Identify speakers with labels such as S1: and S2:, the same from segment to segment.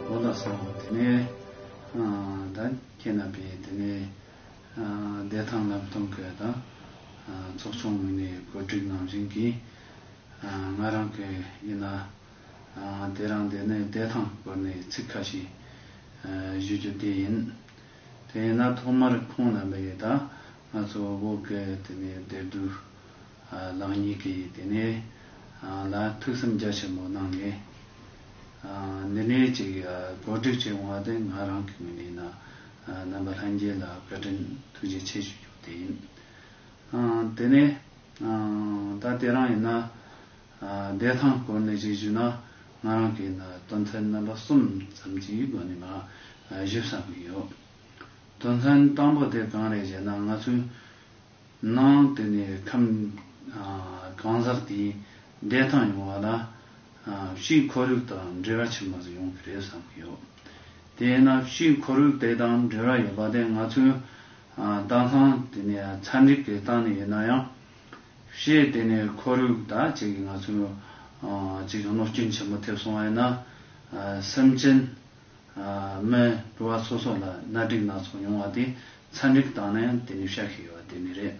S1: ལོ་ཟླ་སོགས་དེ་ནས་ད་ཁྱེད་རྣམ་པས་དེ་ནས་བདེ་ཐང་ལམ་སྟོན་སྐོར་དང། ཚོགས་ཆུང་ངོས་ནས་གོ་སྒྲིག་གནང་བཞིན་གྱི། ང་རང་གི་ཡིན་ན་དེ་རང་དེ་ནས་བདེ་ཐང་སྐོར་ནས་ཚིག་ཁ་ཤས་ཞུ་རྒྱུ་དེ་ཡིན། དེ་ཡིན་ན་ཐོག་མར་ཁོང་རྣམ་པས་ད་ང་ཚོ་བོད་སྐད་དེ་ནས་བདེ་སྡུག། ལགས་གཉིས་ཀྱིས་དེ་ནས་ལ་ཐུགས་སེམས་རྒྱ་ཆེན་པོ་གནང་ནས། འདི་ནས་ཅིག་གོ་སྒྲིག་བྱས་འོང་བ་དེ་ང་རང་གི་ངོས་ནས་ན་རྣམ་པ་ལྷན་རྒྱས་ལ་བཀའ་དྲིན་ཐུགས་རྗེ་ཆེ་ཞུ་རྒྱུ་དེ་ཡིན། དེ་ནས་ད་ལྟའི་རང་ཡིན་ན་བདེ་ཐང་སྐོར་ནས་ཅིག་ཞུས་ན་ང་རང་གིས་ན་དོན་ཚན་རྣམ་པ་གསུམ་ཙམ་གྱི་སྒོ་ནས་ང་ཞིབ་བསམ་གྱི་ཡོད། དོན་ཚན་དང་པོ་དེ་གང་རེད་ཅེ་ན་ང་ཚོའི། གནང། དེ་ནས་ཁམས་གང་ཟག་དེའི་བདེ་ཐང་ཡོང་བ་ལ་གཤིས་ཁོར་ཡུག་དང་འབྲེལ་བ་ཆེན་པོ་ཟིག་ཡོང་གི་རེད་བསམ་གྱི་ཡོད། དེས་ན་གཤིས་ཁོར་ཡུག་དེ་དང་འབྲེལ་བ་ཡོད་པ་དེ་ང་ཚོའི་གདན་ཁང་དེ་ནས་ཚ་འདྲིག་གི་སྟངས་ནས་ཡིན་ན་ཡང། གཤིས་དེ་ནས་ཁོར་ཡུག་དང་བཅས་ཀྱི་ང་ཚོའི་གཅིག་གནོད་སྐྱོན་ཆེན་པོ་ཐེབས་སོང་བ་ཡིན་ན། སེམས་ཅན། མོན་གྲུ་བ་སོ་སོ་ལ་གནའ་སྒྲིག་སྣ་ཚོགས་ཡོང་བ་དེ་ཚན་སྒྲིག་བཏང་ན་ཡང་དེ་ནི་ཤ་ཤེད་ཡོད་པ་དེ་ནི་རེད།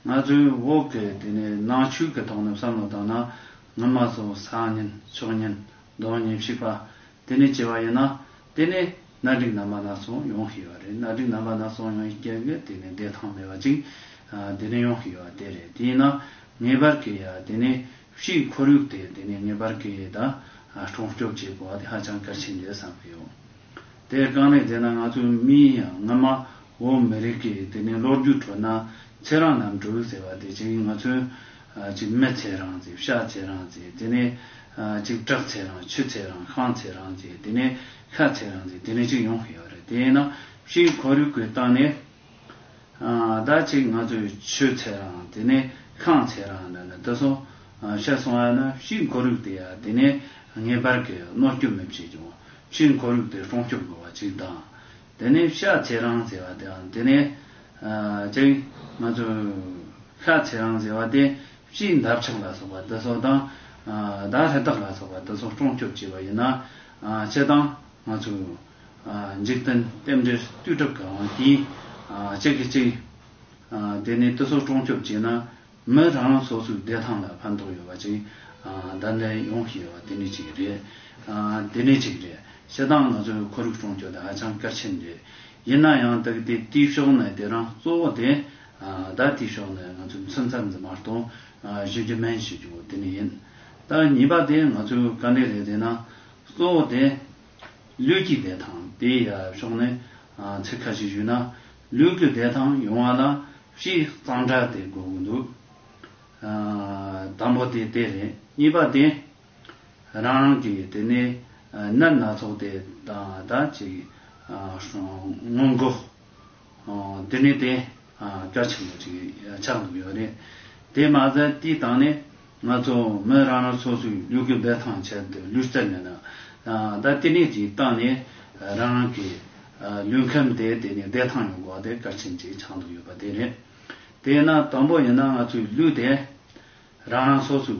S1: ང་ཚོའི་འོག་གི་དེ་ནི་ནང་ཆོས་ཀྱི་ཐོག་ནས་བསམ་བློ་བཏང་ན་སྔོན་མ་སོ་སང་ཉིན་ཕྱོགས་ཉིན་གདོང་ཉིན་བཤིག་པ་དེ་ནི་བྱས་པ་ཡིན་ན་དེ་ནི་གནའ་སྒྲིག་རྣམ་པ་སྣ་ཚོགས་ཡོང་གི་ཡོད་རེད་གནའ་སྒྲིག་རྣམ་པ་སྣ་ཚོགས་ཡོང་ཡི་གེ་གི་དེ་ནི་བདེ་ཐང་མེད་པ་ཅིག་དེ་ནི་ཡོང་གི་ཡོད་པ་དེ་རེད་དེ་ཡིན་ན་ངེས་པར་གྱི་ཡ་དེ་ནི་སྤྱིའི་ཁོར་ཡུག་དེ་དེ་ནས་ངེས་པར་གྱིས་ད་སྲུང་སྐྱོབ་བྱེད་དགོས་པ་དེ་ཧ་ཅང་གལ་ཆེན་རེད་བསམ་གྱི་ཡོད། དེ་རྐང་ལས་བྱས་ན་ང་ཚོ་མི་ཡིན་ཡང་སྔོན་མ་བོད་མི་རིགས་ཀྱི་དེ་ནས་ལོ་རྒྱུས་ཁྲོད་ན་ཚེ་རང་རྣམ་དྲུག་ཟེར་བ་དེ་གཅིག་ང་ཚོས་གཅིག་མི་ཚེ་རང་ཟེར་ཤ་ཚེ་རང་ཟེར་དེ་ནས་གཅིག་བྲག་ཚེ་རང་ཆུ་ཚེ་རང་ཤང་ཚེ་རང་ཟེར་དེ་ནས་ཤ་ཚེ་རང་ཟེར་དེ་ནས་གཅིག་ཡོང་གི་ཡོད་རེད་དེས་ན་སྤྱིའི་ཁོར་ཡུག་གི་སྟངས་ནས་ད་ཅིག་ང་ཚོས་ཆོས་ཚལ་རང་དེ་ནས་ཁང་ཚལ་རང་ད་ནི་དེ་སོང་ཤ་སོང་ཡ་ན་ཕྱིའི་འཁོར་ཡུག་དེ་ཡ་དེ་ནས་ངེས་པར་གྱི་གནོད་སྐྱོབ་མི་བྱེད་ཀྱང་ཕྱིའི་འཁོར་ཡུག་དེ་སྲུང་སྐྱོབ་དགོས་པ་ཅིག་དང། དེ་ནས་ཤ་ཚལ་རང་ཟེར་བ་དེའང་དེ་ནས་ཅིག་ང་ཚོས་ཤ་ཚལ་རང་ཟེར་བ་དེ་ཕྱིའི་འདབ་ཆགས་ལ་སོགས་པ་དེ་སོང་དང་ད་ལྷ་དག་ལ་སོགས་པ་དེ་སོང་སྲུང་སྐྱོབ་བྱེད་པ་ཡིན་ན་ཅི་དང་ང་ཚོས། འཇིག་རྟེན་རྟེན་འབྲེལ་རྟུལ་གྲབ་གང་བ་དེ། གཅིག་གིས་གཅིག། དེ་ནས་རྟུལ་ཚོགས་གྲོང་སྐྱོབ་བྱས་ན། མི་རང་རང་སོ་སོའི་བདེ་ཐང་ལ་ཕན་ཐོགས་ཡོད་པ་ཅིག་བདག་འདྲས་ཡོང་ཞེས་པ་དེ་ནི་ཅིག་རེད། དེ་ནི་ཅིག་རེད། ཤི་སྟངས་ང་ཚོའི་ཁོར་ཡུག་གྲོང་སྐྱོབ་དེ་ཧ་ཅང་གལ་ཆེན་རེད། ཡིན་ན་ཡང་དག་དེ་དུས་ཤོག་ནས་དེ་རང་གཙོ་བོ་དེ། བདག་དུས་ཤོག་ནས་ང་ཚོའི་མཚོན་ཚལ་འཛིན་པར་དང་གཞི་འབྲི་སྨན་བྱེད་རྒྱུ་བོ་དེ་ནི་ཡིན། ད་གཉིས་པ་དེ་ང་ཚོའི་དཀའ་འགྲེལ་རེད་དེ་ན་གཙོ་བོ་དེ། ལུས་ཀྱི་བདེ་ཐང་དེ་ཡི་ཕྱོགས་ནས་ཚིག་ཁ་ཤས་ཞུས་ན། ལུས་ཀྱི་བདེ་ཐང་ཡོང་བ་ལ་བཞི་གཙང་སྦྲ་དེ་དགོས་ཀྱི་འདུག་དང་པོ་དེ་དེ་རེད། གཉིས་པ་དེ་རང་རང་གི་དེ་ནས་སྣོད་སྣ་ཚོགས་དེ་དང་ད་ཅིག་སྔོན་འགོག། དེ་ནས་དེ་སྐྱོར་ཆེན་པོ་ཅིག་ཆགས་འདུག་ཡོད་རེད། དེ་མ་ཟད་དེའི་སྟེང་ནས་ང་ཚོ་མི་རང་རང་སོ་སོའི་ཡུལ་གྱི་བདེ་ཐང་ཆེད་དུ་ལུས་རྩལ་མེད་ན་ད་ལྟེ་གནས་ཀྱི་སྟེང་ནས་རང་རང་གི་ལུས་ཁམས་དེ་དེ་ནས་བདེ་ཐང་ཡོང་དགོས་དེ་སྐར་ཆེན་ཅིག་ཆགས་འདུག་ཡོད་པ་དེ་རེད། དེས་ན་དང་པོ་ཡིན་ན་ང་ཚོའི་ལུས་དེ་རང་རང་སོ་སོའི་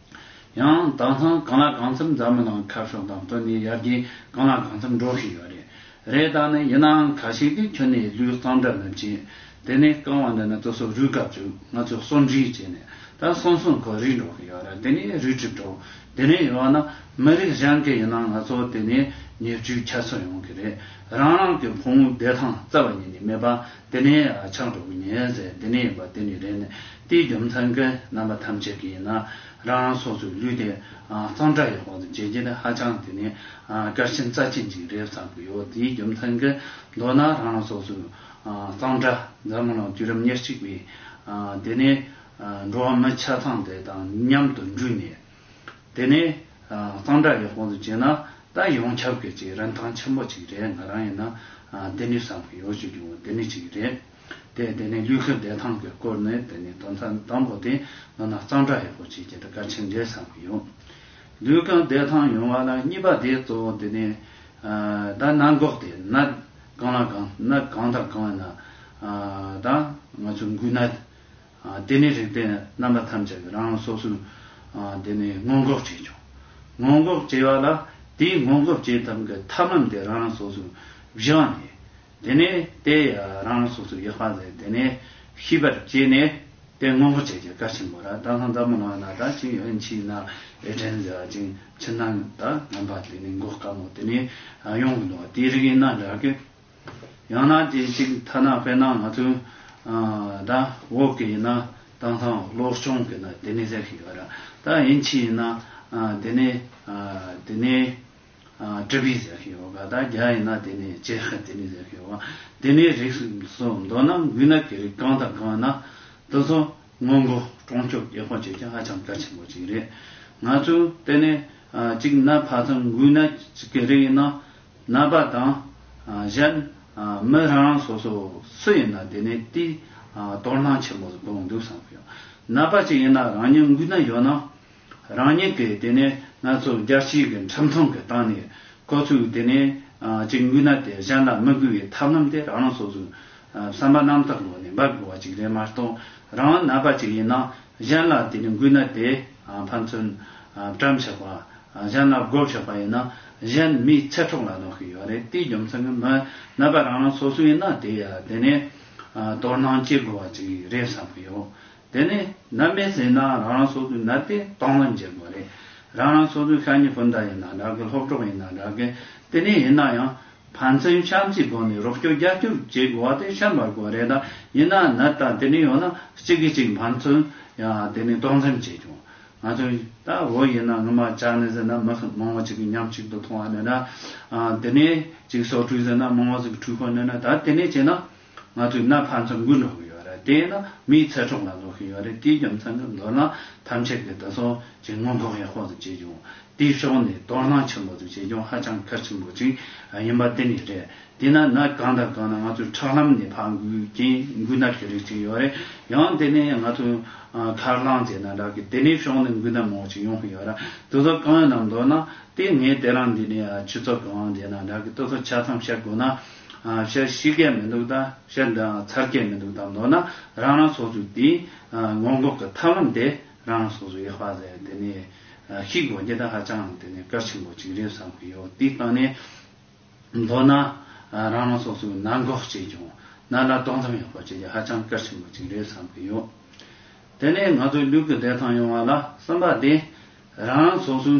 S1: ཡང་དྭངས་གཙང་གང་ལ་གང་འཚམ་འཛམ་གླིང་ནང་ཁ་ཕྱོགས་དང་བསྟུན་ནས་ཡར་རྒྱས་གང་ལ་གང་འཚམ་འགྲོ་བཞིན་ཡོད་རེད། རེད་ད་ནི་ཡིན་ནའང་ཁ་ཞིག་གིས་ཁྱོད་ནི་ལུས་གཙང་འདྲ་མི་བྱེད། དེ་ནས་རྐང་བ་འདི་ནི་ཏུ་སོ་རུས་སྐབས་བཅུག་ང་ཚོས་གསོ་འབྲིས་བྱས་ནས་ད་སོང་སོང་ཁོ་རིག་འགྲོ་གི་ཡོད་རེད་དེ་ནས་རུས་གྲིབ་འགྲོ། དེ་ནས་ཡོད་ན་མི་རིགས་གཞན་གྱི་ཡིན་ན་ང་ཚོ་དེ་ནས་ཉེར་སྤྱོད་ཁྱད་གསོད་ཡོང་གི་རེད་རང་རང་གི་ཕོ་མོའི་བདེ་ཐང་རྩ་བ་ཉིད་ནས་མེད་པ་འདི་ནི་ཆགས་འགྲོ་གི་ཉེན་ཟས་འདི་ནི་ཡིན་པ་འདི་ནི་རེད་ནས་ཏིའི་རྒྱུ་མཚན་མཁན་རྣམ་པ་ཐམས་ཅད་ཀྱིས་ཡིན་ན་རང་རང་སོ་སོའི་ལུས་དེ་གཙང་སྦྲ་ཡོད་པ་དང་བྱས་རྗེས་ནི་ཧ་ཅང་དེ་ནི་སྐྱར་ཆེན་རྩ་ཆེན་ཅིག་རེད་བསམ་གྱི་ཡོད་ཏིའི་རྒྱུ་མཚན་མཁན་མདོར་ན་རང་རང་སོ་སོའི་གཙང་སྦྲ་འཛམ་གླིང་ལ་དུས་རབས་ཉེར་གཅིག་པའི་དེ་ནི་འགྲོ་བ་མི་ཆ་ཚང་དེ་དང་མཉམ་དུ་འགྲུས་ནས། དེ་ནས་གཙང་སྦྲ་ཡག་པོ་འདུག་བྱས་ན་ད་ཡོང་ཁྱབ་གི་ཅིག་རིན་ཐང་ཆེན་པོ་ཅིག་རེད་ང་རང་ཡིན་ན་བདེ་ནུས་སམ་གི་ཡོ་བྱོས་ཀྱི་འོ་དེ་ནི་ཅིག་རེད་དེ་དེ་ནས་ལུས་ཁ་བདེ་ཐང་གི་སྐོར་ནི་དེ་ནི་དོན་ཚན་དང་པོ་དེ་ནོ་ན་གཙང་སྦྲ་ཡག་པོ་བྱས་ཀྱི་འདུག་ག་ཆེ་འདྲས་སམ་གི་ཡོ། ལུས་ཁ་བདེ་ཐང་ཡོང་བ་ལ་གཉིས་པ་དེ་གཙོ་བོ་དེ་ནི་ད་གནང་འགོག་དེ་ན་གང་ལ་གང་ན་གང་དང་གང་ཡིན་ན་ད་ང་ཚོ་འགུལ་ན། དེ་ནས་རིག་པའི་རྣམ་པ་ཐམས་ཅད་རང་སོ་སོའི་དེ་ནས་སྔོན་འགོག་བྱེད་བྱུང། སྔོན་འགོག་བྱེད་པ་ལ་དེའི་སྔོན་འགོག་བྱེད་ཐབས་ཀྱི་ཐབས་ལམ་དེ་རང་སོ་སོའི་བཞི་བ་ནས། དེ་ནས་དེ་རང་སོ་སོའི་ཡག་པ་ལས་དེ་ནས་ཤེས་པར་བྱས་ནས་དེ་སྔོན་འགོག་བྱེད་ཀྱི་བཀའ་ཆེན་པོ་ར་ཏཱ་ལྷ་འཛམ་བུ་ནང་ན་དག་ཅིང་ཨེ་མཆིས་ན་ཨེ་དྲན་ཟེར་བ་ཅིང་ཕྱི་ནང་དག་རྣམ་པ་དེ་ནས་འགོག་དཀའ་མོ་དེ་ནས་ཡོང་གི་འདུག་དེའི་རིགས་ཡིན་ན་འདྲ་གི། ཡང་ན་རྐྱེན་གཅིག་ཐ་ན་དཔེར་ན་ང་ཚོའི་ད་འོག་གི་ཡིན་ན་དེང་སང་སློབ་སྤྱོང་གི་ནང་དེ་ནས་ཟེར་གི་ཡོད་ར་ད་ཡིན་ཕྱིན་ཡིན་ན་དེ་ནས་དེ་ནས་ཀྲི་པི་ཟེར་གི་ཡོད་ག་ད་རྒྱ་ཡིན་ན་དེ་ནས་ཅེ་ཧི་དེ་ནས་ཟེར་གི་ཡོད་ག་དེ་ནས་རིགས་སུ་འདོད་ན་འགུལ་ན་གི་རིགས་གང་དང་གང་ཡིན་ན་དེ་ཚོ་སྔོན་འགོག་གྲོང་སྐྱོབ་རྒྱལ་ཁོངས་བྱེད་རྒྱུ་ཧ་ཅང་གལ་ཆེན་པོ་གཅིག་རེད། ང་ཚོས་དེ་ནས་གཅིག་ན་བར་མཚམས་འགུལ་ན་གི་རིགས་ཡིན་ན་རྣམ་པ་དང། གཞན། མི་རང་རང་སོ་སོ་སུ་ཡིན་ན་དེ་ནས་དེའི། དོར་སྣང་ཆེན་པོ་གང་འདུག་བསམ་གྱི། རྣམ་པ་གཅིག་ཡིན་ན་རང་ཉིད་མགུལ་ན་ཡོད་ན། རང་ཉིད་ཀྱི་དེ་ནས་ང་ཚོ་རྒྱལ་སྤྱིའི་གི་འཁྲབ་མཐོང་གི་སྟངས་ནས། ཁོ་ཚོའི་དེ་ནས་གཅིག་མགུལ་ན་དེ་གཞན་ལ་མི་མགུལ་བའི་ཐབས་ལམ་དེ་རང་རང་སོ་སོའི། བསམ་པ་རྣམ་དག་ལོག་ནས་འབབ་དགོས་བ་ཅིག་རེད་མ་གཏོགས་རང་རང་རྣམ་པ་གཅིག་ཡིན་ན། གཞན་ལ་དེ་ནི་འགུལ་ན་དེས་ཕན་ཚུན་བཀྲམ་ཆགས་པ། གཞན་ལ་རྒོལ་ཆགས་པ་ཡིན་ན་གཞན་མིའི་ཚེ་གྲོགས་ལ་གནོད་ཤུགས་ཡོད་རེད་དེའི་རྒྱུ་མཚན་གྱི་མི་ནད་པ་རང་རང་སོ་སོའི་ཡིན་ན་དེ་ཡ་དེ་ནི་དོར་སྣང་སྐྱེ་དགོས་པ་ཅིག་རེད་བསམ་གྱི་ཡོད་དེ་ནི་ནད་མེད་ཟིན་ན་རང་རང་སོ་སོའི་ནད་དེ་དོགས་སྣང་སྐྱེ་དགོས་རེད་རང་རང་སོ་སོའི་ཤ་ཉེ་སྤུན་ཟླ་ཡིན་ན་འདྲ་གི་སློབ་གྲོགས་ཡིན་ན་འདྲ་གི་དེ་ནི་ཡིན་ན་ཡང། ཕན་ཚུན་ཆམ་གྱི་སྒོ་ནས་རོགས་སྐྱོར་རྒྱབ་སྐྱོར་བྱེད་དགོས་བ་དེ་ཤར་མར་གོ་བ་རེད་ད་ཡིན་ན་ན་ད་དེ་ནས་ཡོང་ན་གཅིག་གིས་གཅིག་ཕན་ཚུན་ཡང་དེ་ནས་སྟོང་འཛེམས་བྱས་བྱུང་ང་ཚོས་ད་བོད་ཡིན་ན་ངུ་མ་ཅག་ནས་ཟེར་ན་མི་ཤི་མང་བོ་གཅིག་གི་མཉམ་གཅིག་ཏུ་མཐོང་བ་ནས་ན་དེ་ནས་གཅིག་སོག་ཁྲུས་ཟེར་ན་མང་བོ་ཟིག་གི་ཁྲུས་ཁོ་ནས་ན་ད་དེ་ནས་བྱས་ན། ང་ཚོས་གནའ་ཕར་ཚོར་འགུལ་སློང་གི་ཡོད་རེད་དེས་ན་མིའི་ཚེ་གྲོགས་ལ་བཟོ་གི་ཡོད་རེད་དེའི་རྒྱུ་མཚན་ནི་མདོར་ན་ཐམས་ཅད་ཀྱིས་བདེ་སྲུང་གི་སྔོན་འགོག་ཡག་པོ་ཟིག་བྱེད་རྒྱུ་དེའི་ཕྱོགས་ནས་དོ་སྣང་ཆེན་པོ་ཟིག་བྱེད་རྒྱུ་ཧ་ཅང་གལ་ཆེན་པོ་ཅིག་ཡིན་པ་དེ་ནི་རེད་དེས་ན་ན་གང་དང་གང་ན་ང་ཚོས་ཁྲག་ལམ་ནས་ཕར་འགུལ་རྐྱེན་འགུལ་ཟླ་གི་རིགས་ཅིག་ཡོད་རེད་ཡང་དེ་ནས་ང་ཚོས་ཁར་ལངས་བྱས་ན་དགྲ་གི་དེ་ནས་ཕྱོགས་ནས་འགུལ་ཟླ་མང་ཅིག་ཡོང་གི་ཡོད་རེད་དེ་ཚོ་གང་ཡིན་ནམ་མདོར་ན་དེ་ངས་དེ་རང་འདི་ནས་ཆུ་ཚོད་གང་བྱས་ན་དགྲ་གི་ལྟོས་ཚོད་ཆ་ཚང་བཤད་དགོས་ན། ཤ་ཤི་གས་མི་འདུག་དང་ཤ་འདི་འང་ཚར་གས་མི་འདུག་དང་མདོར་ན་རང་རང་སོ་སོའི་དེའི་སྔོན་འགོག་གི་ཐབས་ལམ་དེ་རང་རང་སོ་སོའི་ཡག་པ་ཟེར་དེ་ནས་ཤི་དགོས་རྒྱུ་དེ་ཧ་ཅང་འང་དེ་ནས་གལ་ཆེན་པོ་གཅིག་རེད་བསམ་གི་ཡོད་དེའི་སྟེང་ནས་མདོར་ན་རང་རང་སོ་སོའི་ནང་འགོག་བྱས་ཀྱང་ནར་ལ་ཏོག་མཚམས་ཡག་པོ་བྱེད་རྒྱུ་ཧ་ཅང་གལ་ཆེན་པོ་གཅིག་རེད་བསམ་གི་ཡོད་དེ་ནས་ང་ཚོའི་ལུས་ཀྱི་བདེ་ཐང་ཡོང་བ་ལ་བསམ་པ་དེ་རང་རང་སོ་སོའི་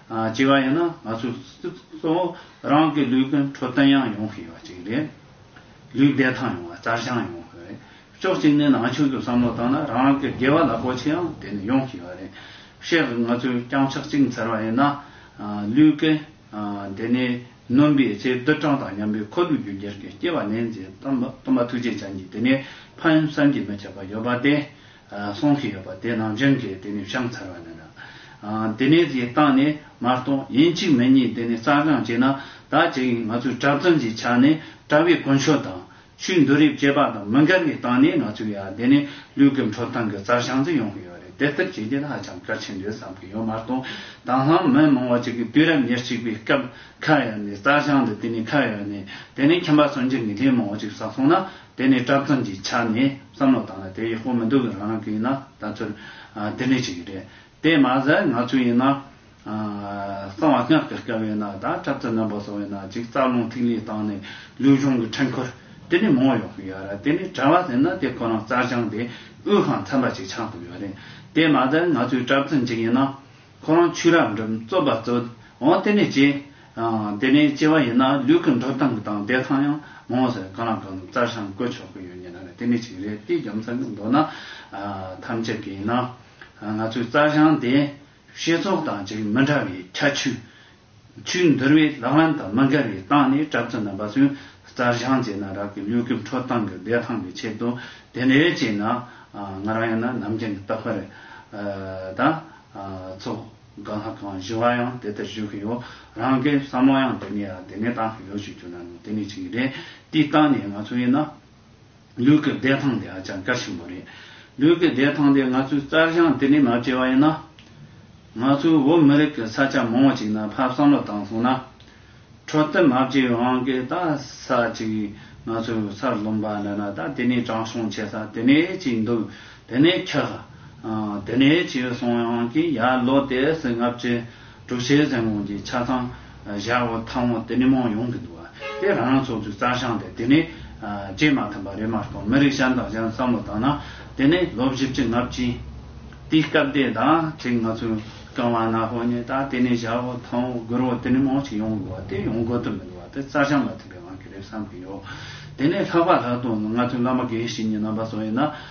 S1: སྐྱེ་བ་ཡིན་ན་ང་ཚོས་གཙོ་བོ་རང་གི་ལུས་ཀྱི་འཕྲོད་བསྟེན་ཡང་ཡོང་ཤེས་པ་ཅིག་རེད། ལུས་བདེ་ཐང་ཡོང་བ་རྩར་བྱང་ཡོང་དགོས་རེད། ཕྱོགས་གཅིག་ནས་ནང་ཆོས་ཀྱི་བསམ་བློ་བཏང་ན་རང་གི་དགེ་བ་ལ་གོ་ཆེ་ཡང་དེ་ནི་ཡོང་ཤེས་པ་རེད། ཤེས་ཀྱི་ང་ཚོས་རྐྱང་ཕྱག་གཅིག་འཚལ་བ་ཡིན་ན། ལུས་ཀྱི་དེ་ནི་སྣུམ་པའི་ཚེ་རྡུལ་གྲངས་དང་མཉམ་པའི་ཁོར་ལུས་རྒྱུན་འགྱུར་གྱི་སྐྱེ་བ་ནི་མཛེས་སྟོན་པ་ཐུགས་རྗེ་ཅན་གྱིས་དེ་ནི་ཕ་ཡུལ་བསམ་གྱིས་མི་ཁྱབ་པ་ཡོད་པ་སྟེ། གསུང་གི་ཡོད་པ་དེ་ནང་བཞིན་གྱི་དེ་ནས་བཤམས་ཚར་བ་ནས་ན། དེ་ནས་ཀྱི་བཏང་ནས་མར་གཏོང་ཡིན་གཅིག་མིན་གཉིས་དེ་ནས་རྩ་སྦྱང་བྱས་ན་ད་བྱས་ཡིན་ང་ཚོའི་གྲབས་རྩོམ་གྱི་ཆ་ནས་གྲབས་བའི་དཀོན་མཆོག་དང། ཆུའི་འདུ་རིབ་སྐྱེས་པ་དང་མི་འགལ་བའི་སྟངས་ནས་ང་ཚོའི་ཡ་དེ་ནས་ལུས་ཀྱི་འཕྲོ་སྟངས་ཀྱི་རྩ་བཤམས་རྩིས་ཡོང་གི་ཡོད་རེད་དེ་ལྟར་བྱས་རྗེས་ཧ་ཅང་གལ་ཆེན་རེད་བསམ་གྱི་ཡོད་མར་གཏོང་དང་ལྷང་མི་མང་བ་ཅིག་གིས་དུས་རབས་ཉེར་གཅིག་པའི་སྐབས་ཁ་ཡོད་ནས་རྩ་བཤམས་འདི་དེ་ནས་ཁ་ཡོད་ནས་དེ་ནས་ཁྱིམ་པ་སོན་རྗེས་ངེས་ཅན་མང་བ་ཅིག་བསགས་སོང་ན་དེ་ནི་བཀྲབས་ཙམ་གྱི་ཆ་ནས་བསམ་བློ་བཏང་ན་དེ་ཡག་པོ་མི་འདུག་རང་རང་གི་ཡིན་ན་ད་ཚོད་དེ་འདྲས་ཅིག་རེད་དེ་མ་ཟད་ང་ཚོས་ཡིན་ན། གསང་བ་སྔགས་ཀྱི་སྐལ་བའི་ནང་ད་བཀྲབས་ཙམ་རྣམ་པ་གསོ་བའི་ནང་ཅིག་རྩ་རླུང་ཐིག་ལེ་བཏང་ནས་ལུས་གཞུང་གི་འཕྲེང་འཁོར་དེ་ནས་མང་ཡོང་གི་ཡོད་རེད་དེ་ནི་གྲྭ་བ་ཟེར་ན་དེ་ཁོ་རང་རྩ་སྦྱངས་ཏེ་དབུས་ཁང་ཚན་པ་ཅིག་ཆགས་འདུག་ཡོད་རེད་དེ་མ་ཟད་ང་ཚོས་བཀྲབས་ཙམ་གཅིག་ཡིན་ན། ཁོ་རང་ཆོས་རབ་འབྲིང་རྩོད་པ་རྩོད་འོང་དེ་ནས་སྐྱེ། དེ་ནས་སྐྱེ་བ་ཡིན་ན་ལུས་ཀྱི་འགྲོ་སྟངས་དང་བདེ་ཐང་ཡང་མང་ཟེར་གང་ལ་གང་འདུག་རྩར་ཤང་བཀོད་ཆོག་གི་ཡོད་ཉེ་ན་ནི་དེ་ནི་གཅིག་རེད་དེའི་རྒྱ་མཚན་ནི་མདོར་ན་ཐམས་ཅད་ཀྱིས་ཡིན་ན། ང་ཚོའི་རྩར་ཤང་དེ་ཤེས་ཚོགས་དང་ཅིག་མི་འདྲ་བའི་ཁྱད་ཆོས་ཆུ་འདུར་བའི་ལག་ལེན་དང་མི་འགལ་བའི་སྟངས་ནས་གྲབས་ཙམ་ན་འབའ་སྲིན་རྩྭ་བཞང་བཅད་ན་རག་གི་ལུས་ཀྱི་འཕྲོ་སྟངས་ཀྱི་བདེ་ཐང་གི་ཆེད་དུ་དེ་འདྲའི་བྱས་ན་ང་རང་ཡང་ན་ནམ་རྒྱུན་གྱི་ལྟ་བ་རེད་ད། ཚོ་ག་ལྷ་ཁང་བཞི་བ་ཡང་དེ་ལྟར་བཞུགས་གི་ཡོད་རང་གི་བསམ་བློ་ཡང་དེ་ནས་ཡང་དེ་ནས་བཏང་གི་ཡོད་ཅེས་བརྗོད་ན་ནོར་དེ་ནི་ཅི་ཡི་རེད་དེའི་སྟངས་ནས་ང་ཚོ་ཡིན་ན། ལུས་ཀྱི་བདེ་ཐང་དེ་ཧ་ཅང་གལ་ཆེན་པོ་རེད། ལུས་ཀྱི་བདེ་ཐང་དེ་ང་ཚོའི་རྩལ་སྦྱངས་དེ་ལས་མ་བྲལ་བ་ཡིན། ང་ཚོའི་བོད་མི་རིགས་ཀྱི་ས་ཆ་མང་བོ་ཅིག་ན་ཕར་བསམ་བློ་བཏང་སོང་ན། འཕྲོད་བསྟེན་མ་བྱས་པའི་དབང་གིས་ད་ས་ཅིག་ང་ཚོའི་སར་ལོན་པ་འདྲ་ན་ད་དེ་ནས་དྲང་སྲོང་བྱེད་ས་དེ་ནས་ཅིག་འདུག་དེ་ནས་ཁྱག། དེ་ནས་ཅིག་སོང་ཡང་ཀྱི་ཡར་ལོ་དེ་སྲིད་ལྔ་བཅུ། དྲུག་ཆའི་མཚན་གུང་གི་ཆ་ཚང་བཞག་འོག་མཐའ་འོག་དེ་མི་མང་ཡོང་གི་འདུག་དེ་རང་རང་ཚོགས་འདུའི་རྩ་བཤང་དེ་དེ་ནས་བཅད་མ་ཐུབ་པ་རེད་མ་གཏོགས་མི་རིགས་གཞན་དང་གཞན་བསམ་བློ་བཏང་ན་དེ་ནས་ལོ་བཞི་བཅུ་ལྔ་བཅུའི་དུས་སྐབས་དེ་དང་ཁྲིག་ང་ཚོའི་རྐང་བ་ནག་པོ་གཉིས་དག་དེ་ནས་བཞག་འོག་མཐའ་འོག་སྒུར་འོག་དེ་མི་མང་ཞིག་ཡོང་དགོས་པ་དེ་ཡོང་དགོས་དོན་མི་འདུག་བ་དེ་རྩ་བཤང་མ་ཐུབ་པའི་དབང་གིས་རེད་བསམ་གི་ཡོད་དེ་ནས་ལྷག་པ་ལྷག་དོན་ནི་ང་ཚོའི་བླ་མ་དགེ་བཤེས་གཉིས་རྣམ་པ་སོགས་ཡིན་ན་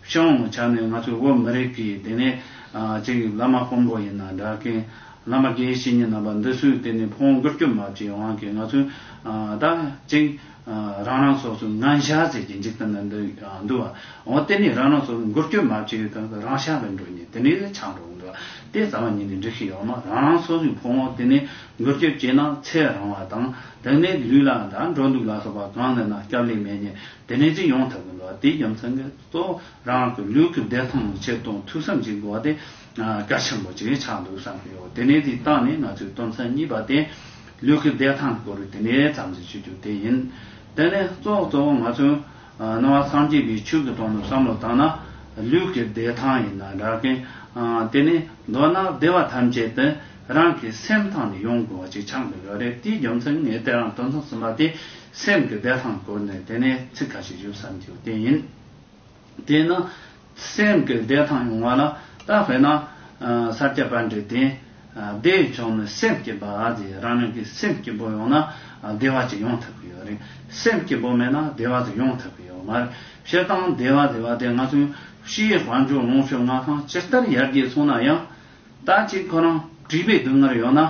S1: ཤང་བོང་བྱ་ནི་ང་ཚོའི་བོད་མི་རིགས་ཀྱི་དེ་ནས་ཅིག་ཡིན་བླ་མ་དཔོན་པོ་ཡིན་ན་འདྲ་མཁན་བླ་མ་དགེ་བཤེས་གཉིས་རྣམ་པ་འདི་སུས་དེ་ནས་བོང་གུར་སྐྱོབ་མ་བྱས་དབང་གིས་ང་ཚོས་ད་ཅིག་རང་རང་སོ་སོའི་ངན་ཤ་ཟས་ཀྱི་འཇིག་རྟེན་ན་འདུག་བ་འོ་དེ་ནས་རང་རང་སོ་སོའི་མགུར་སྐྱོབ་མ་བྱས་ཡོད་ཐག་རང་ཤ་བས་འགྲོ་ཉིན་དེ་ནས་ལས་ཆག་འགྲོ་འདུག་བ་དེ་རྩ་བ་ཉིད་ནས་འགྲིག་ཤེས་ཡོང་ན་རང་རང་སོ་སོའི་བོང་བོ་དེ་ནས་མགུར་སྐྱོབ་བྱས་ན་ཚེ་རང་བ་དང་དེ་ནས་ལུས་ལ་འདྲ་འགྲོ་འདུག་ལ་སོགས་པ་གང་ལེན་ན་སྐྱབས་ལེགས་མེད་ཉེས་དེ་ནས་ཅི་ཡོང་ཐབས་ཀྱི་འགྲོ་བ་དེའི་རྒྱུ་མཚན་གྱིས་སོ། རང་གི་ལུས་ཀྱི་བདེ་ཐང་ལ་ཆེད་དུ་ཐུགས་བསམ་གྱིས་འགྲོ་བ་དེ་གལ་ཆེན་པོ་ཅིག་ཆགས་འདུག་བསམ་གྱི་ཡོད་དེ་ནས་དེའི་རྟགས་ནི་ང་ཚོའི་དོན་ཚན་གཉིས་པ་སྟེ། ལུས་ཀྱི་བདེ་ཐང་གི་སྐོར་དེ་ནས་བསམ་གཞིག་བྱེད་རྒྱུ་དེ་ཡིན། དེ་ནས་གཙོ་བོ་གཙོ་བོ་ང་ཚོས་སྣང་བ་སངས་རྒྱས་པའི་ཆོས་ཀྱི་དོན་དུ་བསམ་བློ་བཏང་ན། ལུས་ཀྱི་བདེ་ཐང་ཡིན་ན་འདྲ་གི། དེ་ནས་མདོར་ན་བདེ་བ་ཐམས་ཅད་དེ་རང་གི་སེམས་ཐང་ནས་ཡོང་དགོས་པ་ཅིག་ཆགས་འདུག་ཡོད་རེད་དེའི་རྒྱུ་མཚན་ངས་དེ་རང་དོན་ཚན་གསུམ་པ་དེ་སེམས་ཀྱི་བདེ་ཐང་སྐོར་ནས་དེ་ནས་ཚིག་ཁ་ཤས་ཞུ་བསམ་གྱི་དེ་ཡིན། དེས་ན། སེམས་ཀྱི་བདེ་ཐང་ཡོང་བ་ལ་ད་བས་ན། སར་སྐྱ་པར་འབྲས་དེ། བདེ་བའི་ཕྱོགས་ནི་སེམས་སྐྱིད་པ་དེ་རང་ཉིད་ཀྱི་སེམས་སྐྱིད་པོ་ཡོང་ན། བདེ་བ་ཅིག་ཡོང་ཐུབ་གི་ཡོད་རེད། སེམས་སྐྱིད་པོ་མེད་ན་བདེ་བ་དེ་ཡོང་ཐུབ་གི་ཡོད་མ་རེད། བཤད་སྟངས་བདེ་བ་བདེ་བ་དེ་ང་ཚོའི་ཕྱིའི་དཔལ་འབྱོར་ལོངས་སྤྱོད་མངའ་ཐང་ཇི་ལྟར་ཡར་རྒྱས་སོང་ན་ཡང། ད་ཅིག་ཁོ་རང་བྲིས་པའི་སྡུག་བསྔལ་ཡོད་ན།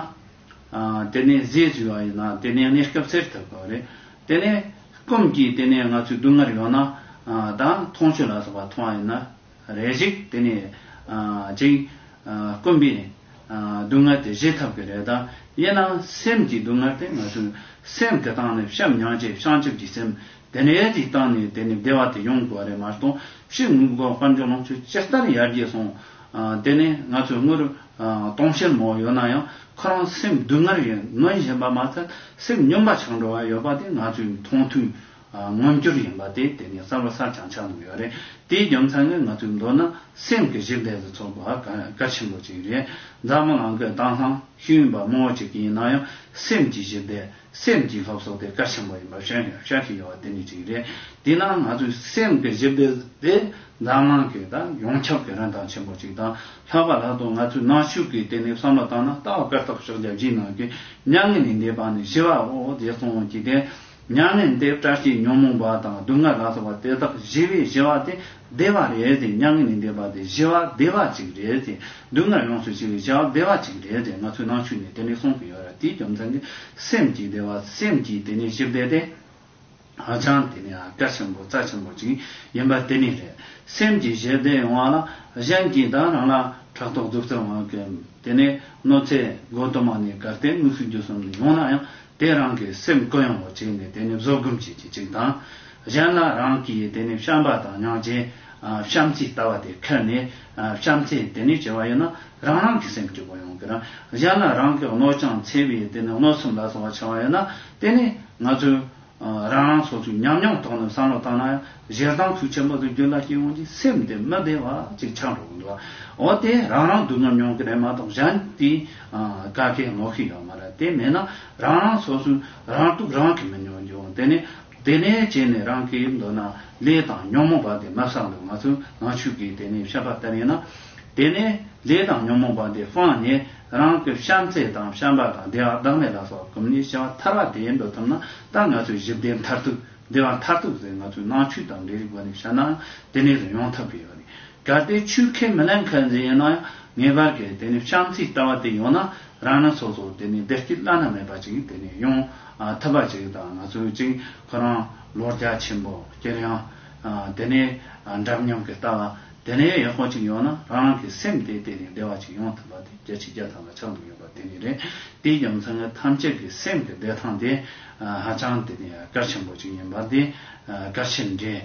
S1: དེ་ནས་ཟས་ཟོས་བ་ཡིན་ན་དེ་ནས་གནས་སྐབས་སེར་ཐུབ་དགོས་རེད། དེ་ནས་སྐོམ་གྱིས་དེ་ནས་ང་ཚོས་སྡུག་བསྔལ་ཡོད་ན་དང་མཐོང་ཆོས་ལ་སོགས་པ་མཐོང་བ་ཡིན་ན་རེ་ཞིག་དེ་ནས་ཅིག། སྐོམ་པའི་སྡུག་བསྔལ་དེ་བཞེས་ཐུབ་གི་རེད་དམ། དབྱེ་ན་སེམས་ཀྱི་སྡུག་བསྔལ་དེ་ང་ཚོའི་སེམས་དེ་དང་ནི་བཤམས་མྱང་བྱེད་བྱང་ཆུབ་ཀྱི་སེམས་དེ་ནས་ཅིག་བཏང་ནས་དེ་ནས་བདེ་བ་དེ་ཡོང་དགོས་རེད་མ་གཏོགས་ཕྱི་དངོས་པོ་དཀར་འཇོག་ལོངས་སྤྱོད་ཅི་ལྟར་ཡར་རྒྱས་སོང་དེ་ནས་ང་ཚོས་དངོས་སྟོང་ཆེན་མོ་ཡོད་ན་ཡང་ཁོ་རང་སེམས་སྡུག་བསྔལ་ཡོད་མངོན་བཞིན་པ་མ་ཚད་སེམས་སྙོམས་པ་ཆགས་འགྲོ་བ་ཡོད་པ་དེ་ང་ཚོས་མཐོང་ཐོས་མངོན་གྱུར་ཡིན་པ་དེ་དེ་ནས་གསར་བ་གསར་བྱང་ཆགས་འདུག་ཡོད་རེད་དེའི་རྒྱུ་མཚན་ནི་ང་ཚོའི་མདོར་ན་སེམས་ཀྱི་གཞི་འབྲས་སུ་ཚོགས་པ་གལ་ཆེན་པོ་ཅིག་རེད་མཛའ་མོ་ནང་གི་དྭངས་ལྷང་ཤུན་པ་མང་བོ་ཅིག་ཡིན་ན་ཡང་སེམས་ཀྱི་གཞི་འབྲས་སེམས་ཀྱི་ལྷོ་སོགས་དེ་དཀར་ཆེན་པོ་ཡིན་པ་ཤར་ཡང་ཤར་གྱི་ཡོལ་བ་དེ་ནི་གཅིག་རེད། དེས་ན་ང་ཚོའི་སེམས་ཀྱི་གཞི་དཔེ་དེ་འཛམ་གླང་གི་དང་ཡོངས་ཁྱབ་ཀྱི་རིན་ཐང་ཆེན་པོ་གཅིག་དང་ལྷག་པ་ལྷག་ཏུ་ང་ཚོའི་ནང་ཆོས་ཀྱི་སྟེང་ནས་བསམ་བློ་བཏང་ན་ལྟ་བ་སྐར་ཐོག་ཕྱོགས་བརྒྱ་བཞིའི་ནང་གི་མྱ་ངན་ལས་འདས་པ་ནས་ཞི་བ་འོག་རྗེ་ཙོང་བོ་གཅིག་སྟེ། མྱ་ངན་འདས་བཀྲ་ཤིས་ཉོན་མོངས་པ་དང་སྡུག་བསྔལ་ལ་སོགས་པ་དེ་དག་ཞི་བའི་ཞི་བ་སྟེ་བདེ་བ་རེད་དེ་མྱ་ངན་ལས་འདས་པ་དེ་བཞི་བ་བདེ་བ་གཅིག་རེད་དེ་སྡུག་བསྔལ་ཡོངས་སུ་ཕྱེ་བའི་བྱ་བ་བདེ་བ་གཅིག་རེད་དེ་ང་ཚོས་ནང་ཆོས་ནས་དེ་འདྲའི་གསུང་གི་ཡོད་ར་དེའི་རྒྱུ་མཚན་གྱི་སེམས་ཀྱི་བདེ་བ་སེམས་ཀྱི་དེ་ནས་བཞི་བདེ་དེ་ཧ་ཅང་དེ་ནས་གལ་ཆེན་པོ་རྩ་ཆེན་པོ་གཅིག་ཡིན་པ་དེ་ནས་རེད་སེམས་ཀྱི་བཞི་བདེ་ཡོང་བ་ལ་གཞན་གྱིས་དང་རང་ལ་ཕྲག་དོག་རྫུ་རྩལ་དབང་གིས་དེ་ནས་གནོད་འཚེ་དགོད་གཏོར་མ་ནས་གར་སྟེགས་དམིགས་བསལ་རྒྱུ་གསུམ་ནས་ཡོང་ན་ཡང་དེ་རང་གི་སེམས་བཀོད་ཡོང་བ་བྱས་ནས་དེ་ནས་བཟོད་སྒོམ་བྱེད་ཀྱི་གཅིག་དང་གཞན་ལ་རང་གིས་དེ་ནས་བཤམས་པ་དང་མྱང་བྱའི་བཤམས་རྩིས་ལྟ་བ་དེ་ཁེལ་ནས་བཤམས་རྩིས་དེ་ནས་བྱེད་པ་ཡིན་ན་རང་རང་གི་སེམས་སྐྱོ་པོ་ཡོང་གི་རང་གཞན་ལ་རང་གི་གནོད་ཀྱང་འཚེ་བའི་དེ་ནས་གནོད་སེམས་ལ་སོང་བ་ཆེ་བ་ཡོད་ན་དེ་ནས་ང་ཚོས་རང་རང་སོ་སོའི་ཉམས་མྱོང་ཐོག་ནས་བསམ་བློ་བཏང་ན་ཡང་གཞས་གདངས་ཚུལ་ཆེན་པོ་དུ་འགྱུར་ལ་སྐྱེ་བོ་འདིའི་སེམས་དེ་མི་བདེ་བ་ཅིག་ཆགས་འགྲོ་གི་འདུག་འོ་དེ་རང་རང་སྡུག་ཉམས་མྱོང་གི་རེད་མ་གཏོགས་གཞན་དེའི་བཀའ་ཁས་ངོ་ཤེས་ཡོད་མ་རེད་དེ་མེད་ན་རང་རང་སོ་སོའི་རང་སྡུག་རང་གིས་མི་མྱོང་རྒྱུ་དེ་ནས། དེ་ནས་བྱས་ནས་རང་གི་མདུན་ན་ལས་དང་ཉོན་མོངས་པ་འདི་མ་བསགས་འདུག་ང་ཚོས་ནག་ཆུ་གིས་དེ་ནས་བཤད་པ་ལྟར་ཡིན་ན། དེ་ནས་ལས་དང་ཉོན་མོངས་པ་འདི་སྤངས་ནས་རང་གི་བྱམས་བརྩེ་དང་བྱམས་པ་དང་བདེ་བ་བདག་མེད་ལ་སོགས་ཀུན་ནས་བྱེ་བ་ཐར་བ་དེ་འགྲོ་ཐུབ་ན་ད་ང་ཚོའི་གཞི་བདེ་མཐར་ཐུག་བདེ་བ་མཐར་ཐུག་ཟེར་ང་ཚོའི་ནང་ཆོས་དང་འབྲེལ་རིགས་སྒོ་ནས་བཤད་ནའང་དེ་ནས་དུ་ཡོང་ཐབས་ཀྱི་ཡོད་རེད་གལ་ཏེ་ཆོས་ཁས་མི་ལེན་མཁན་ཟེར་ཡོད་ན་ཡང་ངེས་པར་གྱི་དེ་ནས་བྱམས་བརྩེའི་ལྟ་བ་དེ་ཡོང་ན་རང་སྣ་ཚོགས་ཚོགས་དེ་ནས་བདེ་སྐྱིད་བླ་ན་མེད་པ་ཅིག་དེ་ནས་ཡོང་ཐུབ་པ་ཅིག་དང་ང་ཚོའི་གཅིག་ཁོ་རང་ལོ་བརྒྱ་ཆེན་པོ་སྐྱེལ་ཡང། དེ་ནས་འདྲ་མཉམ་གྱི་ལྟ་བ་དེ་ནས་ཡག་པོ་ཅིག་ཡོང་ན་རང་རང་གི་སེམས་དེ་དེ་ནས་བདེ་བ་ཅིག་ཡོང་ཐུབ་པ་དེ་བརྒྱ་ཆའི་བརྒྱ་ཐམ་པ་ཆགས་འདུག་ཡོད་པ་དེ་ནས་རེད། དེའི་རྒྱུ་མཚན་ངེད་ཐམས་ཅད་ཀྱི་སེམས་ཀྱི་བདེ་ཐང་དེ་ཧ་ཅང་དེ་ནས་གལ་ཆེན་པོ་ཅིག་ཡིན་པ་དེ་གལ་ཆེན་རེད།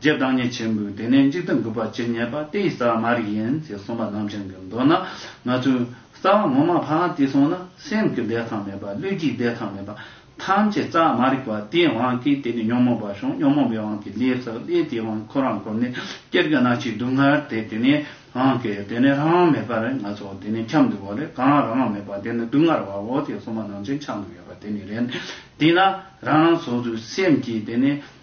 S1: རྗེ་བདག་ཉིད་ཆེན་པོས་དེ་ནས་འཇིག་རྟེན་གུས་པར་ཇི་སྙེད་པ་དེ་ཡི་རྩ་བ་མ་རིག་ཡིན་ཅེས་གསུངས་པ་རྣམས་ཅན་གྱི་མདོ་ན་མ་ཚུད། རྩ་བ་ངོ་མ་ཕ་ཝང་ཏི་སོགས་ན་སེམས་ཀྱི་བདེ་ཐང་མེད་པ་ལུས་ཀྱི་བདེ་ཐང་མེད་པ་ཐམས་ཅད་རྩ་བ་མ་རིག་པ་དེའི་དབང་གིས་དེ་ནས་ཉོན་མོངས་པ་བྱུང་ཉོན་མོངས་པའི་དབང་གིས་ལས་བསགས་ལས་དེའི་དབང་ཁོ་རང་ཁོ་ནས་སྐྱེར་གྱི་སྣ་ཆའི་སྡུག་བསྔལ་དེ་དེ་ནས་དབང་གིས་དེ་ནས་རང་དབང་མེད་པར་ང་ཚོ་དེ་ནས་འཁྱམས་འདུག་བ་ལས་གང་རང་དབང་མེད་པ་དེ་ནི་སྡུག་བསྔལ་བའོ་ཅེས་གསུངས་པ་རྣམས་ཅན་ཆགས་འདུག་ཡོད་པ་དེ་ནི་རེད། དེས་ན་རང་རང་སོ་སོའི་སེམས་ཀྱིས་དེ་ནས།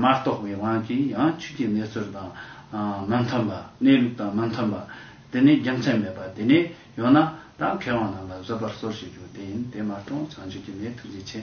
S1: མ་རྟོགས་པའི་དབང་གིས་ཡང་ཆོས་ཀྱི་གནས་ཚུལ་དང་མི་མཐུན་པ། གནས་ལུགས་དང་མི་མཐུན་པ། དེ་ནི་རྒྱུ་མཚན་མེད་པ་དེ་ནས་ཡོད་ན་དང་མཁས་དབང་རྣམས་ལ་བཟོད་པར་གསོལ་ཞེས་བརྗོད་བདེན་དེ་མ་རྟོགས་བྱང་ཆུབ་ཀྱི་གནས་ཐུགས་རྗེ་ཆེ།